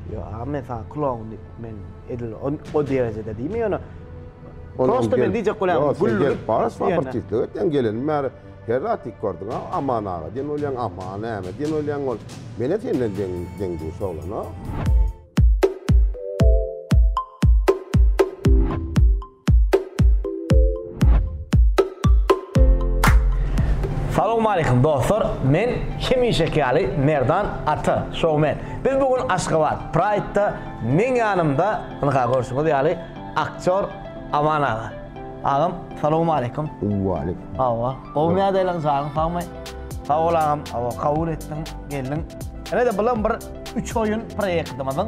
Ýok, agam men saňa kloun diýip, men edil o derejede diýme, ýöne prosta men diýjek bolýan gülüp. Ýok, bar sportistlik etýän gelenim bäri her zat dik gördüň, Aman aga diýen bolýaň, Aman näme diýen bolýaň ol. Men-ä senden deň-duş oglan-a. Salowmaleýkim dostlar, men hemişeki ýaly Merdan Ata, showman. Biz bu gün Aşgabat Pride-da meň ýanymda, ynha görşüňiz ýaly, aktýor Aman aga. Agam, salowmaleýkim. Waleýkim. Hawa, gowumy ýagdaýlaryň, janyň sagmy? Sag bol agam, hawa kabul etdiň, geldiň. Ine-de bulam bir üç oýun proýektimiziň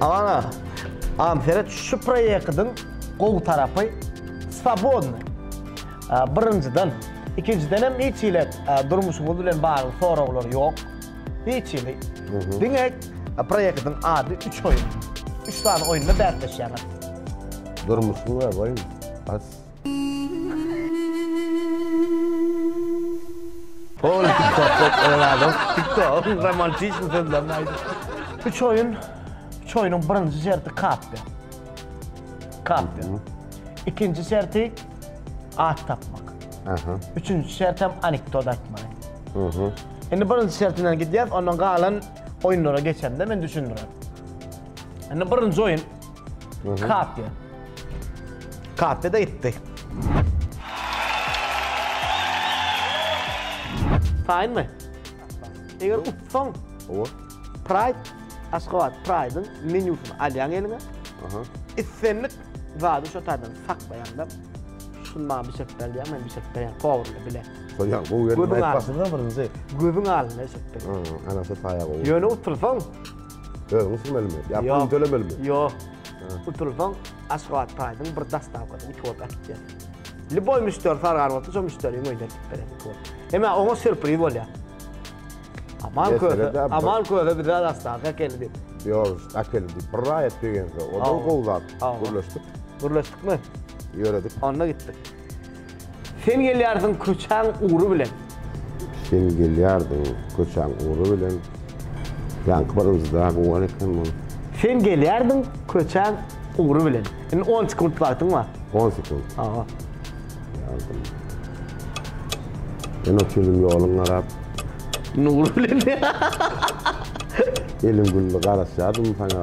Aman agam seret şu proýektiň gowy tarapy swobodnyý. Birinjiden, ikinjiden hem hiç hili durmuşyňyz bilen bagly soraglar ýok. Hiç hili. Diňe proýektiň ady üç oýun. Üç sany oýunda bäsleşýäňiz. Durmuşyň we oýun. Bas. Hol tiktok adam tiktok romantizm sözlerini aýdyp. Üç oýun, üç oýunyň birinji şerti kapdy. Kapdy. Ikinji şerti at tapmak. Aha. Üçünji şert hem anekdot aýtmak. Aha. Indi birinji şert bilen gidýär, ondan galan oýunlara geçende men düşündirerin. Indi birinji oýun Kapya. Kapya da gitti. Taýyn mı? Eger utsaň, Owa. Pride, Aşgabat Pride-yň menýusyny alýaň eliňe. Aha. Islendik zady şo taýdan saklaýaň da, şuny maňa bişirip ber diýýäň, men bişirip berýän kowurly bile. Goýýan, gowy geldi. Gözüň Aýtmasyňda birinji. Gözüň alynda bişirip berýän. Anasy taýa gowy. Ýöne utursaň, Özüňi sürmelimi? Ýa pul tölemelimi? Ýok. Utulsaň, Aşgabat Pride-yň bir dostawkasyny iki ot atyp ber. Liboý müşderi sargan bolsa, şo müşderiň öýüne eltip berer iki ot. Hemä oňa sürpriz bolýar. Aman köze, Aman köze bize dostawka äkeldi diýip. Ýok, äkeldi. Bir raýat begense, o da gowy zat. Gürleşdik. Gürleşdikmi? Ýöredik. Onda gitdik. Sen gelýärdiň köçäň ugry bilen. Sen gelýärdiň köçäň ugry bilen. Ýaňky birinjide gowy eken bu. Sen gelýärdiň köçäň ugry bilen. Indi on sekunt wagtyň bar. On sekunt. Hawa. Gelýärdim. Ýene otyryn ýoluň garap. Nury bilen. Elim güldi garaşýardym saňa.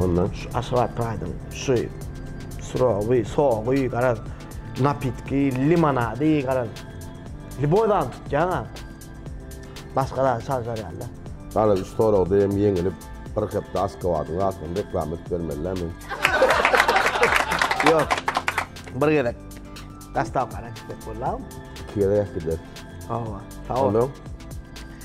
Ondan şu Aşgabat Pride-yň şu syrowy, sogy, garaz, napitki, limonady, garaz, lýuboý zady tutýaň-a, başga zady çaljarýan-da. Garaz, üç soragda hem ýeňilip, bir hepde Aşgabadyň zadyny reklama edip bermelidä men? Ýok, bir gezek gastawkana gitsek bollarmy? Iki gezek-ä gideriz. Hawa, sag bol. Ondan?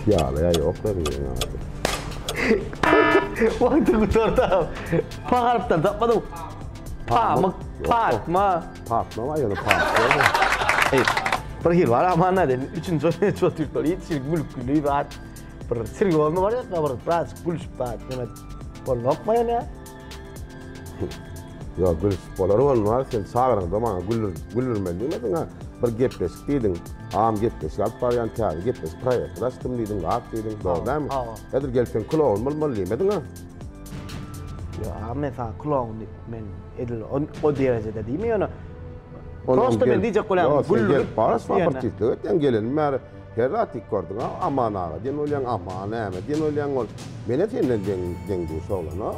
Piýala ýa ýok da diýen ýaly. Wagty gutardy. Pagarypdan tapmadyň. Pamyk, pakma. Pakma bar ýa-da pakma. Eý, bir hil bar amana diýen. Üçünji ot, üçünji ot ýurtlar ýetişir, gülküli zat. Bir sirgi bolanda bar ýa, gabyr, biraz gülüşip zat, ýöne bolmakmy ýöne? Ýok, gülüp bolar bolmaz. Sen çagryňda maňa güldürmeli diýmediň-ä. Bir gepleşik diýdiň. Agam gepleşik alyp barýan, täze gepleşik proýekti açdym diýdiň, gap diýdiň. Dogry dälmi? Hawa. Häzir gelseň kulogyn bolmaly diýmediň-ä. Ýok agam, men saňa kulogyn diýip, men edil o derejede diýme ýöne. Prosta men diýjek bolýan, güldürip. Gelip bar, şuwagt bir tizlik et, ýaňy gelenim bäri. Her zat dik gördüň a, Aman aga diýen bolýaň, Aman näme diýen bolýaň ol. Men-ä senden deň, deň-duş oglana.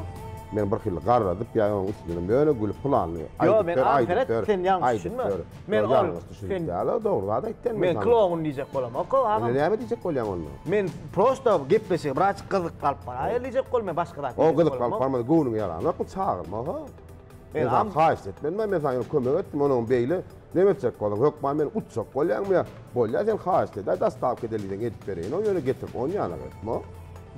Men bir hili garradyp ýa onuň üstünden böle gülüp pylanyny aýdyp ber, aýdyp ber, aýdyp ber. Ýok, ýalňyş düşünip däl-ow, dogry zat aýtýan men saňa. Men kloun diýjek bolamok-ow agam. Onda näme diýjek bolýaň onda? Men prosta gepleşige biraz gyzyk galyp baraýýar diýjek bolum, men başga zat diýjek bolamok. O gyzyk galyp barmasa göwnüňi ýaranokmy, çagyrma-ha. Men am haýyşt etmedim men saňa ýöne kömek etdim onuň beýle näme etjek boluň hökman meni utjak bolýaňmy ýa bolýa sen haýyşt edä dostawka edeliň edip bereýin ony ýöne getirip on ýana etme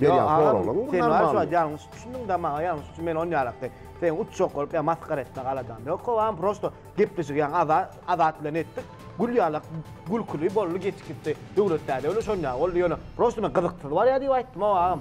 berýän soraglaryň bu normalny ýalňyş düşündüň damaga ýalňyş düşün men on ýalakda seni utjak bolup ýa masgara etmek aladam ýok howam prosto gepleşigi ýaňy azat bilen etdik gül ýalak gülküli boldy geçip gitdi döwlet däde ýöne şonýa boldy ýöne prosto men gyzyksyz barýa diýip aýtdym howam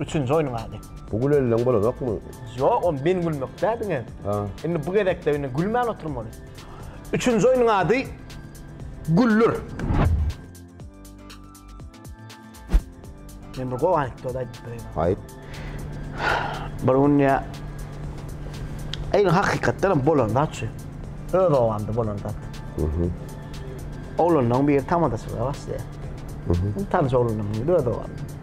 Üçünji oýnuň ady. Bu gülenleň bolanokmy? Ýok, ol men gülmekde diňe. Ha. Indi bu gezekde indi gülmän oturmaly. Üçünji oýnuň ady Güllür. Men bir gowy anekdot aýdyp bereýin. Aýt. Bir gün ýa Eýle hakykatdan hem bolan zat şu. Öz obamda bolan zat. Mhm. Oglanlaryň biri tamadaçylyga başlaýar. Mhm. Tanyş oglanlaryň biri öz obamda.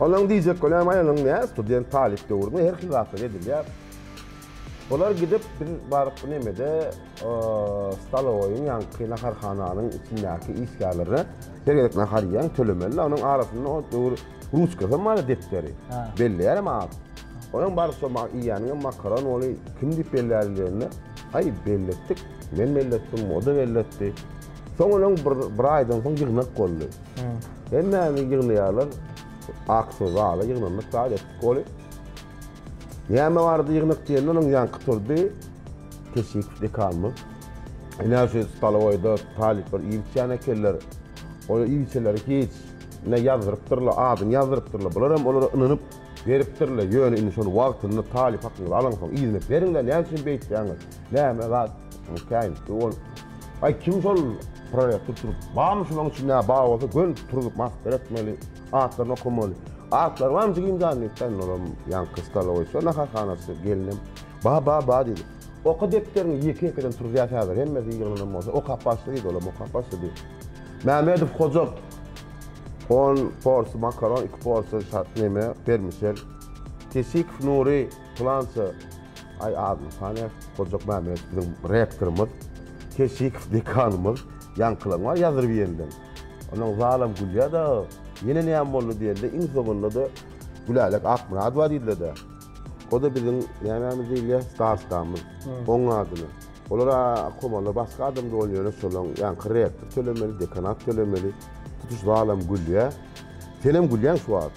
Onuň diýjek günä maýanyň nä student talyp döwründe her hil zatlar edilýär. Olar gidip biz baryp nemede stalowoýyň ýaňky naharhananyň içindäki işgärlerine her gezek nahar iýýäň tölemeli onuň arasynda o döwür ruçkasam bar depderi belleýärem at. Onuň baryp şo iýýäniňem makaron boli kim diýip bellärli diýende aý belletdik men belletdim o da belletdi. Soň onuň bir aýdan soň ýygnak boldy. Hemmäni ýygnaýarlar. Aksyň zala ýygnandyk zat etdik ony. Näme bardy ýygnak diýende onuň ýaňky turdy. Keşik dekanymyz. Ine şu stolowaýda talyplar iýip içýän ekenler. Ol iýip içenleri hiç. Ine ýazdyrypdyrlar, adyny ýazdyrypdyrlar. Bular hem olara ynanyp beripdirler. Ýöne indi şony wagtynda talyp hakyňyzy alaňsoň yzyna beriň-le, näme üçin beýtýäňiz? Näme zat? Mikaýyl, ol, aý, kim şol prorektor turup, barmy şulaň içinde, bar bolsa, göni turzup, maslahat etmeli, atlaryny okamaly. Atlary barmy jigim jan, diýip, Taýynolam ýaňky stolowy, şo naharhanasy, gelinem, bar, bar, bar, diýdi. Oka depderiňi, ýeke-ýekeden turuzýas häzir, hemmesi ýygnanan bolsa, okap başla, diýdi, olam okap başlady. Mämmedow hojat, on porsiýa makaron, iki porsiýa şa, neme, bermişel. Kesikow Nury. Pylança aý adyny sanaýar. Hojakmämmedow biziň rektorymyz, Keşikow dekanymyz, ýaňkylaň bar ýazdyryp iýenden. Onuň zalam gülýär dagy. Ýene näme boldy diýende, iň soňunda-da Gülälek Akmyradowa diýdiler-de. O-da biziň nämämiz diýilýär, starostamyz. Oň adyna. Olar-a komanlar başga adam doly ýöne şolaň ýaňky rektor tölemeli, dekanat tölemeli. Tutuş zalam gülýär. Senem gülýäň şu wagt.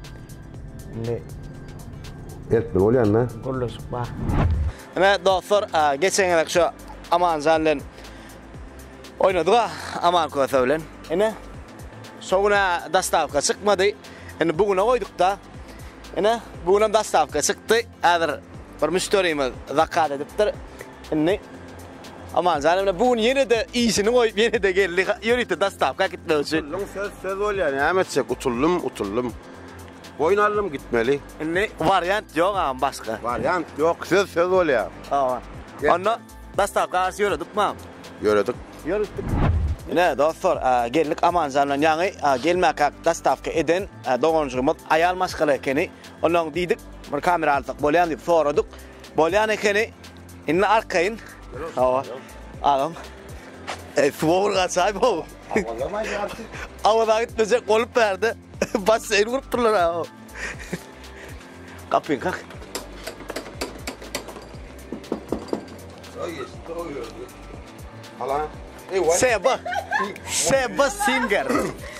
Indi Erkbil bolýanda. Gürleşik bar. Ine dostlar, geçen gezek şu Amanjan bilen oýnadyga, Aman Köse bilen. Ine, şo gün-ä dostawka çykmady. Indi bu güne goýduk-da. Ine, bu günem dostawka çykdy. Häzir bir müşderimiz zakaz edipdir. Indi Amanjan emle bu gün ýene-de işini goýup, ýene-de geldi. Ýörite dostawka gitmek üçin. Utuldym, söz söz bolýar. Näme etjek? Utuldym, utuldym. Boýun aldym, gitmeli. Indi wariant ýok agam başga. Wariant ýok, söz söz bolýar. Hawa. Onda dostawka garşy ýöredikmi agam? Ýöredik. Ýörütdik. Ine, dostlar, geldik Amanjan bilen ýaňy gelmäkäk dostawka eden doganjygymyz aýal maşgala ekeni. Ondan diýdik, bir kamera alsak bolýamy diýip soradyk. Bolýan ekeni. Indi arkaýyn. Hawa. Agam. E, suwa bir gaçaý bu. Awaza gitmejek bolup berdi. Basseýn gurup durlar ha. Kapyň kak. Hala. Seba. Seba Singer.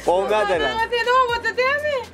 Oňa delen. Sen owada dämi?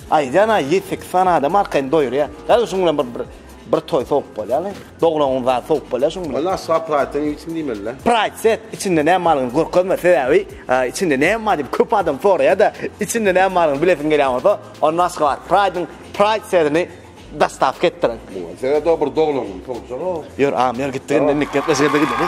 Aýdýan-a ýedi sekiz sany adam arkaýyn doýurýar. Gaý şuň bilen bir bir toý sowup bolýaly. Doglan gün zat sowup bolýar şuň bilen. Onda asla praýtdan ýitim diýmelidä. Praýt set içinde näme barlygyny görkezme sebäbi içinde näme bar diýip köp adam soraýada içinde näme barlygyny bilesiň gelýän bolsa onda Aşgabat praýdyň praýt sedini dostawka etdiriň. Muňa sebäp o bir doglan gün sowjaga. Ýör agam ýör gitdik indi indik gepleşige gideli.